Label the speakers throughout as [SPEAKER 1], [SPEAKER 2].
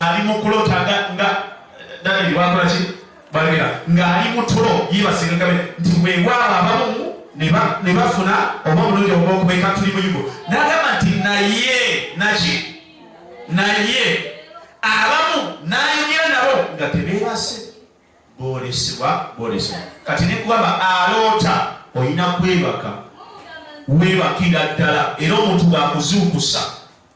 [SPEAKER 1] ali mu kulota nga nga Daniel wakola ki balira nga ali mu tulo yibasinga kabe nti weewaawo abamu ne bafuna oba omulundi ogw'okubeeka tuli mu yugo n'agamba nti naye naki naye abamu n'ayogera nabo nga tebeebase boolesebwa boolesebwa kati ne kugamba aloota olina kwebaka weebakira ddala era omuntu waakuzuukusa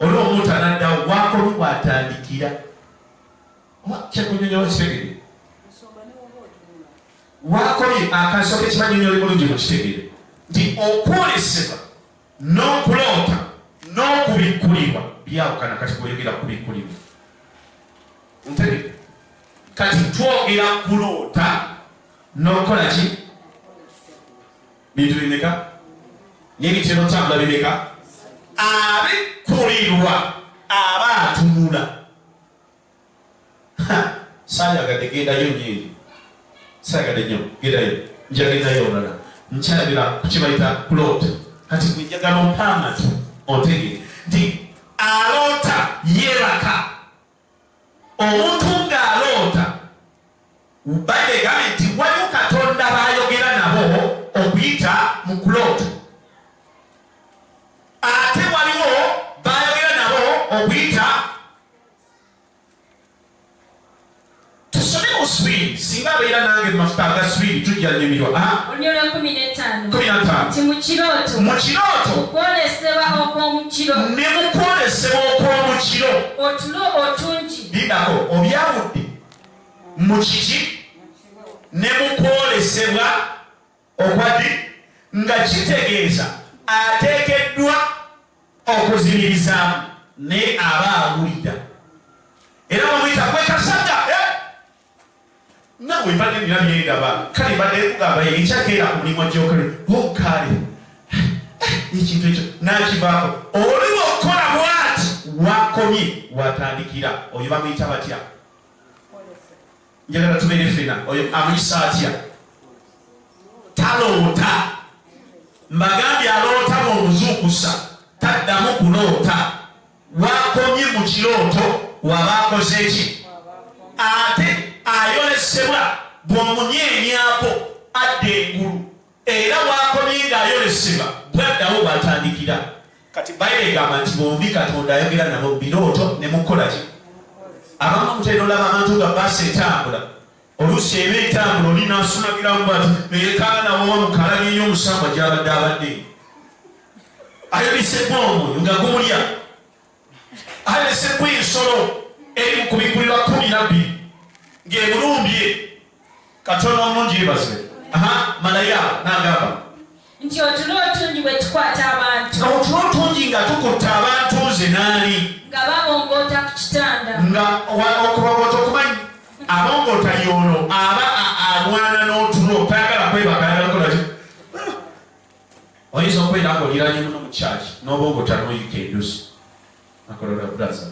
[SPEAKER 1] olwo omuntu anadda wakola kwatandikira kyekunyonyola kitegere wakoye akasoka ekibanyonyola bulungi mukitegere nti okwolesebwa n'okuloota n'okubikkulibwa byawukana kati kweyogera kubikkulibwa ntegere kati twogera kuloota n'okukola ki bintu bimeka n'ebitera otambula bimeka abikulirwa aba atunula sayagadde gendayo nyini sayagadde nyo gendayo njagendayo olala nkyalabira kukibayita kuloota kati gwe njagala ompamati ontegere nti aloota yebaka omuntu ng'aloota bayibuli egambye nti waliwo katonda baayogera nabo okuyita mu kuloota ate waliwo baayogera nabo okuyita Tusome mu Swiri, singa abeera nange mu mafuta aga Swiri tujja nyumirwa. Ah? Olunyolo kumi
[SPEAKER 2] n'ettaano. Kumi na ttaano. Ti mu kirooto. Mu kirooto. Kwolesebwa okw'omukiro. Ne mu
[SPEAKER 1] kwolesebwa okw'omukiro. Otulo
[SPEAKER 2] otungi. Bidako
[SPEAKER 1] obyawudde mu kiki ne mu kwolesebwa okwadi nga kitegeeza ateekeddwa okuzimirizaamu naye aba awulira era bamuyita gwekasaga eh! nawe mbadde nina byengaba kale mbadde kugamba ekyakeera ku mulimu gyokole okaale oh, ekintu ekyo nakivaako oli wakukola bwati wakomye watandikira oyo bamuyita batya njagala tubeere fena oyo amuyisa atya taloota mbagambye aloota mumuzuukusa taddamu kuloota wakomye mu kirooto waba akoze ki ate ayolesebwa bw'omunyeenyako adda engulu Era bw'akomye ng'ayolesebwa, bw'addawo w'atandikira. Kati Bayibuli egamba nti bombi Katonda ayogera nabo mu birooto ne mu kukola ki? Abamu mutera olaba abantu nga baasa etambula, oluusi eba etambula oli n'asumagiramu bwati ne yeekaana nawowa mu kalabye y'omusambwa gy'abadde abadde ayolesebbwa omwoyo nga gumulya alesebwa ensolo eri mu kubikkulirwa kumi nabbi ng'emulumbye katonda omulungi yebaze malaya nagamba nti otulo otungi
[SPEAKER 2] bwe tukwata abantu otulo otungi nga
[SPEAKER 1] tukutta abantu nze naani nga babongoota
[SPEAKER 2] ku kitanda nga
[SPEAKER 1] okubaboota okumanyi abongoota yoono aba alwana n'otulo tayagala kwebakayagala oyinza okubeera nga oliranye muno mu kyaki n'oba ng'otanoyika endusi akolera braza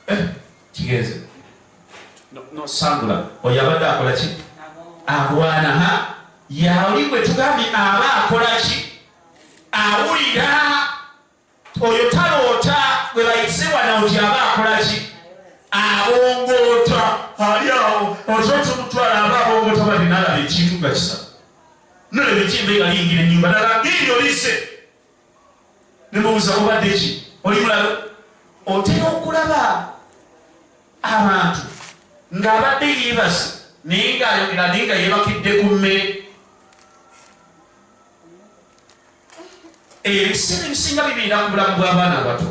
[SPEAKER 1] eh, kigenze nosangula oyo abadde akola ki alwana ha yaoli gwe tugambye aba akola ki awulira oyo taloota gwe bayise wana nti aba akola ki abongoota ali awo osoose omutwala aba abongoota bali nalaba ekintu nga kisa nolaba ekyembe nga liyingira enyumba nalaba ngeri olise nemubuza obadde ki oli mulalo otera okulaba abantu ng'abadde yeebase naye ng'ayogera naye nga yeebakidde ku mmere ebiseera ebisinga bibiina ku bulamu bw'abaana abato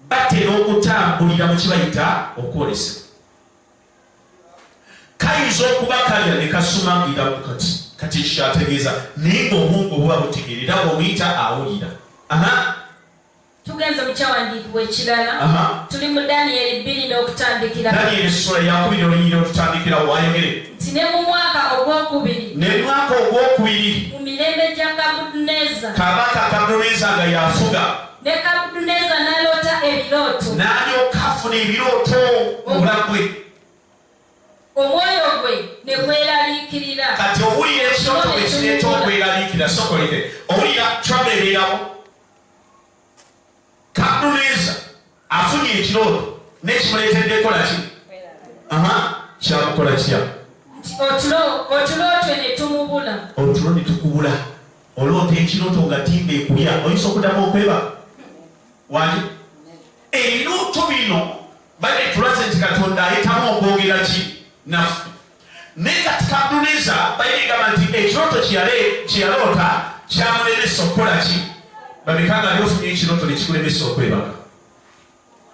[SPEAKER 1] batera okutambulira mu kibayita okwolesebwa kayinza okuba kalya ne kasuma ngira kati kati ekyo ategeeza naye ngaobwongo obuba butegeera era bwobuyita awulira
[SPEAKER 2] tugenze mu kyawandiikibwa ekirala tuli mu daniyeri bbiri n'okutandikira daniyeri essula
[SPEAKER 1] yakubiri olunyiri okutandikira wayogere nti ne mu mwaka
[SPEAKER 2] ogwokubiri ne mwaka ogwokubiri
[SPEAKER 1] mu
[SPEAKER 2] mirembe gya
[SPEAKER 1] kabuduneza kabaka kabuduneza
[SPEAKER 2] nga
[SPEAKER 1] yafuga
[SPEAKER 2] ne kabuduneza naloota ebirooto nalyoka
[SPEAKER 1] afuna ebirooto obulagwe
[SPEAKER 2] omwoyo gwe ne gweraliikirira kati owulira
[SPEAKER 1] ekirooto bwe kireeta okweraliikira sokoleke owulira trouble ebeerawo Kabuneza afunye ekirooto n'ekimuleetedde kukola ki? Aha, kyakukola kitya? Otulo,
[SPEAKER 2] otulootwe ne tumubula. Otulo ne tukubula.
[SPEAKER 1] Oloota ekirooto nga timba ekulya, oyinza okuddamu okweba? Wali? Ebirooto bino bade tulaze nti Katonda ayitamu okwogera ki naffe. naye kati kaduniza bayibuli gamba nti ekirooto kyeyaloota kyamulemesa okukola ki babika nga lyofunye ekirooto nekikulemesa okwebaka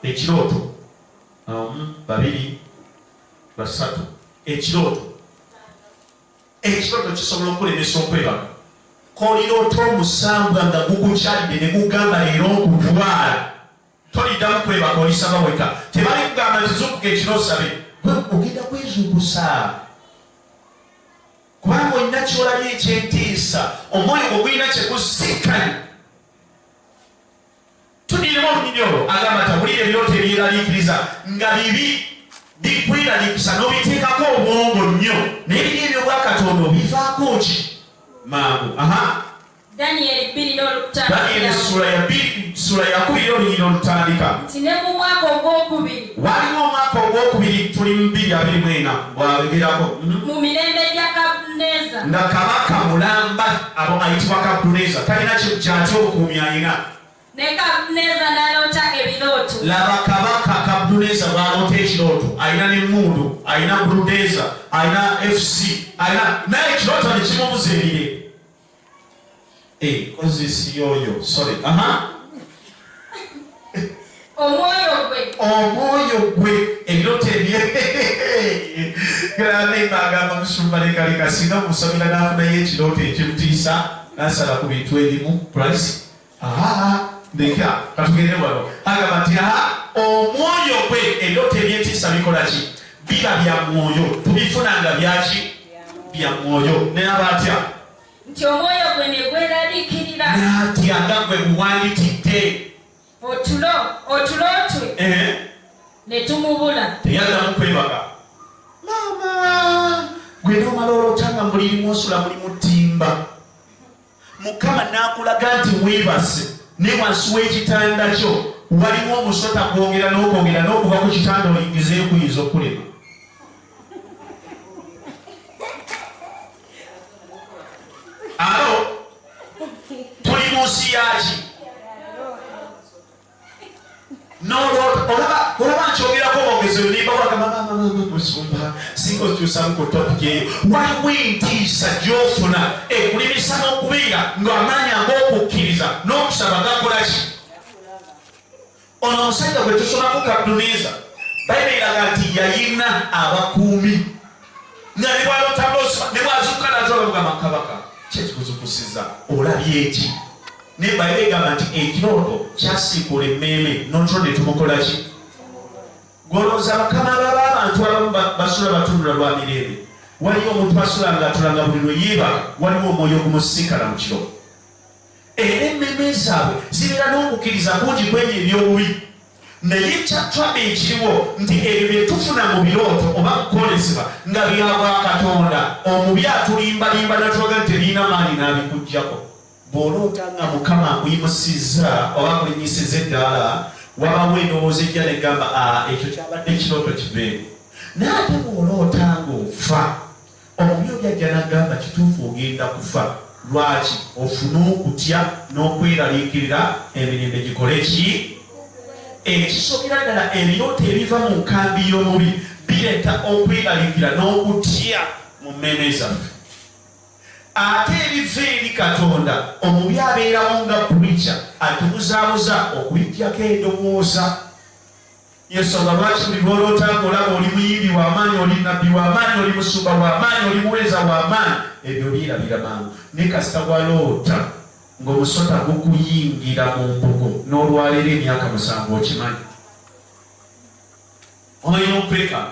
[SPEAKER 1] ekirooto awamu babiri basatu ekirooto ekirooto kisobola okulemesa okwebaka koliroota omusambwa nga gukukyalidde ne gugamba leero nkutwala toliddamu kwebaka olisaba weka tebali kugamba nti zukuka ekiro osabe ogenda kwezukusa kubanga olina kyolabye ekyentiisa omwoyo ogulina kyekusikani tudiremu olunyini olwo agamba ti obulira ebirooto ebyeraliikiriza nga bibi bikweralikisa nobiteekako obwongo nnyo naye biri ebyobwakatonda obivaako ki mangu aha
[SPEAKER 2] Daniel bbiri n'olutandika. Daniel essula ya
[SPEAKER 1] bbiri essula ya kubiri n'olunyiri n'olutandika. Nti ne mu mwaka
[SPEAKER 2] ogw'okubiri. Waliwo omwaka
[SPEAKER 1] ogw'okubiri tuli mu bbiri abiri mu ena bw'ayogerako. Mhm. Mu mirembe
[SPEAKER 2] gya Kabuneza. Nga kabaka
[SPEAKER 1] mulamba abo ayitibwa Kabuneza talina kyati obukuumi alina. Ne Kabuneza
[SPEAKER 2] n'aloota ebirooto. Laba
[SPEAKER 1] kabaka Kabuneza bw'aloota ekirooto alina n'emmundu alina buludeza alina FC alina naye ekirooto ne kimubuza ebire. Eh, kozi siyoyo sorry aha omwoyo gwe omwoyo gwe ebirooto ebye granema agamba musumba lekaleka singa omusabira n'afunayo ekirooto ekimutiisa n'asala ku bintu ebimu price leka katugende wano agamba nti a omwoyo gwe ebyoto ebyentiisa bikola ki biba bya mwoyo tubifuna nga byaki bya mwoyo naye aba atya nti
[SPEAKER 2] omwoyo gwe ne gweraliikirira natya nga
[SPEAKER 1] gwe muwandikidde otulo
[SPEAKER 2] otulo twe eh. ne tumubula teyaddamu kwebaka
[SPEAKER 1] maama gwe nomala olotanga mulirimu osula mulimu ttimba mukama n'akulaga nti weebase naye wansi w'ekitanda kyo waliwo omusota gwogera n'okwogera n'okuva ku kitanda olingizeyo kuyinza okulema alo tuli mu nsi yaki olaba nkyogerako bongezi olimba wagamamusumba singa okyusamu ku topiki eyo waliwo entiisa gyofuna ekulimisa n'okubeera ng'amaanyi ag'okukkiriza n'okusaba gakolaki ono omusajja gwe tusomako kaduniza bayiberaga nti yayina abakuumi nga ne bwalota bosi ne bwazuuka nazola mugamba kabaka kyekikuzukusiza olabye eki naye bayibuli egamba nti ekirooto kyasiikula emmeeme notro ne tumukola ki gwolowooza bakama baba abantu abamu basula batunula lwa mirembe waliyo omuntu asula nga atula nga buli lwe yeebaka waliwo omwoyo ogumusiikala mu kiro era emmeme zaabwe zibeera n'okukkiriza kungi kwebyo eby'obubi naye ekyatwade ekiriwo nti ebyo bye tufuna mu birooto oba kukolezebwa nga bya bwa katonda omubi atulimbalimba natulaga nti tebirina maanyi n'abikugyako bw'oloota nga mukama akuyimusizza oba akulinyisiza eddaala wabawo endowooza ejja negamba ah, ekyo kyabadde kirooto kibeere naye ate bw'oloota ng'ofa Omubi oli ajja n'agamba, Kituufu ogenda kufa. Lwaki? Ofune okutya n'okweraliikirira emirembe gikole ki? Ekisookera ddala, ebirooto ebiva mu nkambi y'omubi bireeta okweraliikira n'okutya mu mmeeme zaffe. Ate ebiva eri Katonda, omubi abeerawo nga purica atubuzaabuza okubiggyako endowooza. Yensonga lwaki buli lw'oloota ng'olaba oli muyimbi wa maanyi, oli nabbi wa maanyi, oli musumba wa maanyi, oli muweereza wa maanyi, ebyo byerabira mangu. Naye kasita waloota ng'omusota gukuyingira mu mbugo n'olwaleero emyaka musanvu okimanyi. Omanyi n'okwekanga.